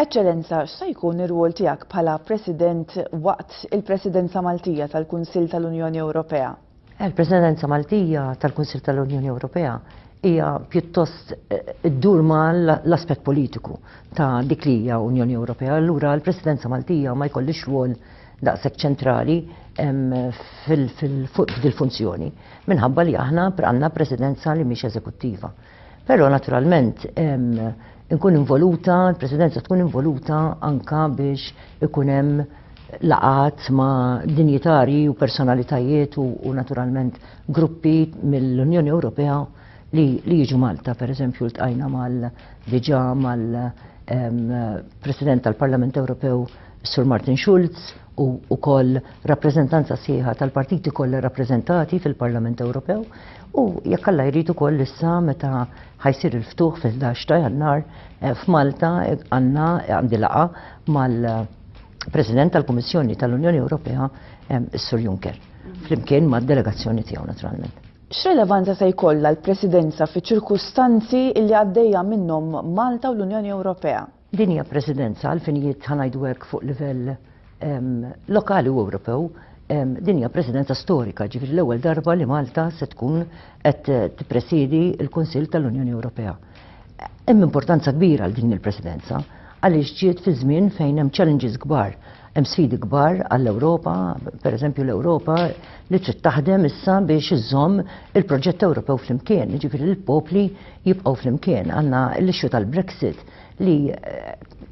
Eċċellenza, x'sa jkun ir-rwol tiegħek bħala President waqt il-Presidenza Maltija tal-Kunsill tal-Unjoni Ewropea? Il-Presidenza Maltija tal-Kunsill tal-Unjoni Ewropea hija pjuttost eh, ddur ma l-aspett politiku ta' dik li hija Unjoni Ewropea. Allura l-Presidenza Maltija ma jkollix rwol daqshekk ċentrali fuq dil-funzjoni minħabba li aħna għandna presidenza li mhix eżekuttiva. Però naturalment inkun involuta, il-presidenza tkun involuta anka biex ikun hemm laqat ma' dinjitari u personalitajiet u, u naturalment gruppi mill-Unjoni Ewropea li, li jiġu Malta, per eżempju, l-tqajna mal diġa mal-President tal-Parlament Ewropew Sur Martin Schulz u wkoll rappreżentanza sħiħa tal-partiti kollha rappreżentati fil-Parlament Ewropew u jekk Alla jrid ukoll issa meta ħajsir il-ftuħ fil-11 ta' Jannar eh, f'Malta eh, għandna eh, għandi laqa mal-President tal-Kummissjoni tal-Unjoni Ewropea is-Sur Juncker flimkien mad-delegazzjoni tiegħu naturalment. X'relevanza se jkollha l-Presidenza fi ċirkustanzi li għaddejja minnhom Malta u l-Unjoni Ewropea? Din hija Presidenza għal finijiet ħa ngħidu hekk fuq livell lokali u Ewropew, din hija Presidenza storika, ġifieri l-ewwel darba li Malta se tkun qed tippresiedi l-Kunsill tal-Unjoni Ewropea. Hemm importanza kbira għal din il-Presidenza għaliex ġiet fi żmien fejn hemm challenges kbar Hemm sfidi kbar għall-Ewropa, pereżempju l-Ewropa li trid taħdem issa biex iżżomm il-proġett Ewropew flimkien, jiġifieri l-popli jibqgħu flimkien. Għandna l-issue tal-Brexit li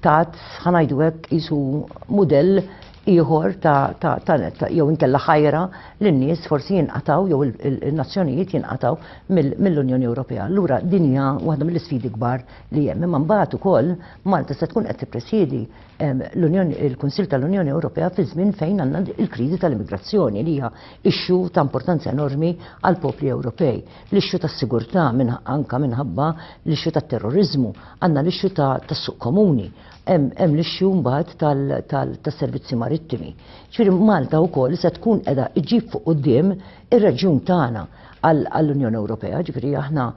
tat ħa ngħidu hekk qisu mudell ieħor ta', ta, ta, ta jew inkella ħajra li n-nies forsi jinqataw jew il-nazzjonijiet jinqataw mill-Unjoni Ewropea. Lura din hija waħda mill-isfidi kbar li hemm. Imma mbagħad ukoll Malta se tkun qed tippresjedi l-Unjoni il-Kunsill tal-Unjoni Ewropea fi żmien fejn għandna il-kriżi tal-immigrazzjoni li hija issue ta' importanza enormi għall-popli Ewropej. L-issue tas-sigurtà anke minħabba l-issue tat-terroriżmu, għandna l-issue tas-suq komuni, hemm l-issue mbagħad tas-servizzi marittimi. Ġifieri Malta wkoll se tkun qiegħda ġġib fuq quddiem ir-reġjun tagħna għall-Unjoni Ewropea, ġifieri aħna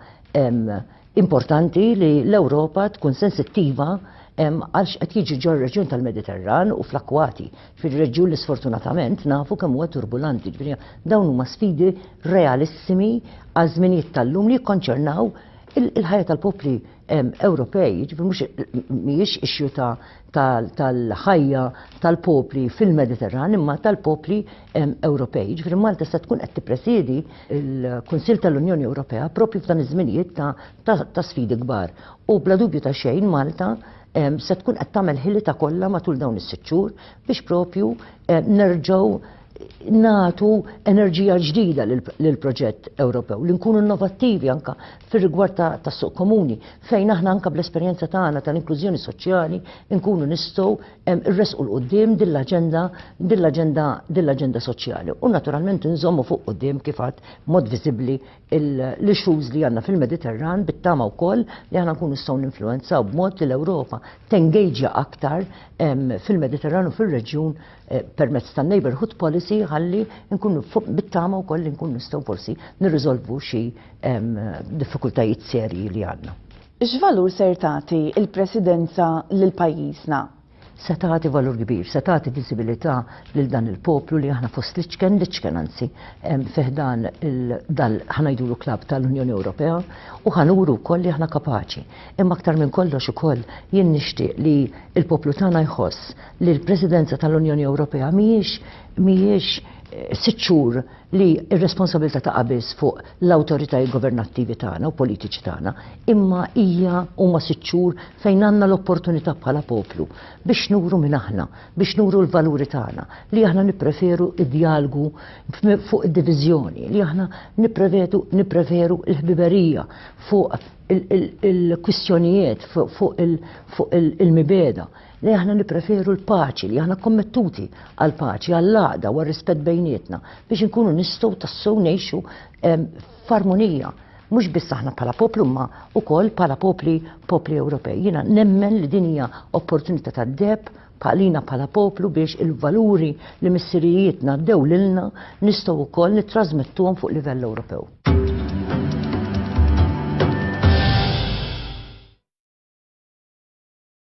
Importanti li l-Ewropa tkun sensittiva għal x'qed jiġi ġol reġjun tal-Mediterran u fl-akkwati. Ġifieri reġjun li sfortunatament nafu kemm huwa turbulanti. Ġifieri dawn huma sfidi realissimi għal żminijiet tal-lum li jikkonċernaw il-ħajja tal-popli Ewropej. Ġifieri mhux mhijiex issue tal-ħajja tal-popli fil-Mediterran imma tal-popli Ewropej, ġifri Malta se tkun qed tippresidi l-Kunsill tal-Unjoni Ewropea propju f'dan iż-żminijiet ta' sfidi kbar. U bla dubju ta' xejn Malta se tkun qed tagħmel ħilita kollha matul dawn is-sitt xhur biex propju nerġgħu nagħtu enerġija ġdida lill-proġett Ewropew, li nkunu innovattivi anke fir-rigward tas-suq komuni, fejn aħna anke bl-esperjenza tagħna tal-inklużjoni soċjali nkunu nistgħu irresqu l qudiem din l-aġenda din l-aġenda din l-aġenda soċjali u naturalment inżommu fuq qudiem kif għad mod viżibbli l-issues li għandna fil-Mediterran bit-tama wkoll li aħna nkunu nistgħu ninfluwenzaw b'mod li l-Ewropa tengeġja aktar fil-Mediterran u fir-reġjun eh, permezz tan-neighborhood policy ħalli nkunu bit-tama wkoll li nkunu nistgħu forsi nirriżolvu xi diffikultajiet serji li għandna. X'valur ser tagħti l-Presidenza lil pajjiżna? Se tagħti valur kbir, se tagħti viżibilità lil dan il-poplu li aħna fost l-iċken, l-iċken anzi, fi ħdan dan ħa ngħidulu klabb tal-Unjoni Ewropea u ħa nuru wkoll li aħna kapaċi. Imma aktar minn kollox ukoll jien nixtieq li l-poplu tagħna jħoss li l-Presidenza tal-Unjoni Ewropea mhijiex mhijiex sitt xhur li r-responsabilità taqa' biss fuq l-awtoritajiet governattivi tagħna u politiċi tagħna, imma hija huma sitt xhur fejn għandna l-opportunità bħala poplu biex nuru minn aħna, biex nuru l-valuri tagħna, li aħna nippreferu d-djalgu fuq id-diviżjoni, li aħna nipprevedu nippreferu l-ħbiberija fuq il-kwistjonijiet fuq il-mibeda. li aħna nippreferu l-paċi, li aħna kommettuti għal paċi, għal laqda u rispett bejnietna biex inkunu nistgħu tassew ngħixu ehm, f'armonija. Mhux biss aħna bħala poplu ma ukoll bħala popli popli Ewropej. Jiena nemmen li din hija opportunità tad-deb bħalina bħala poplu biex il-valuri li missirijietna dew lilna nistgħu wkoll nittrażmettuhom fuq livell Ewropew.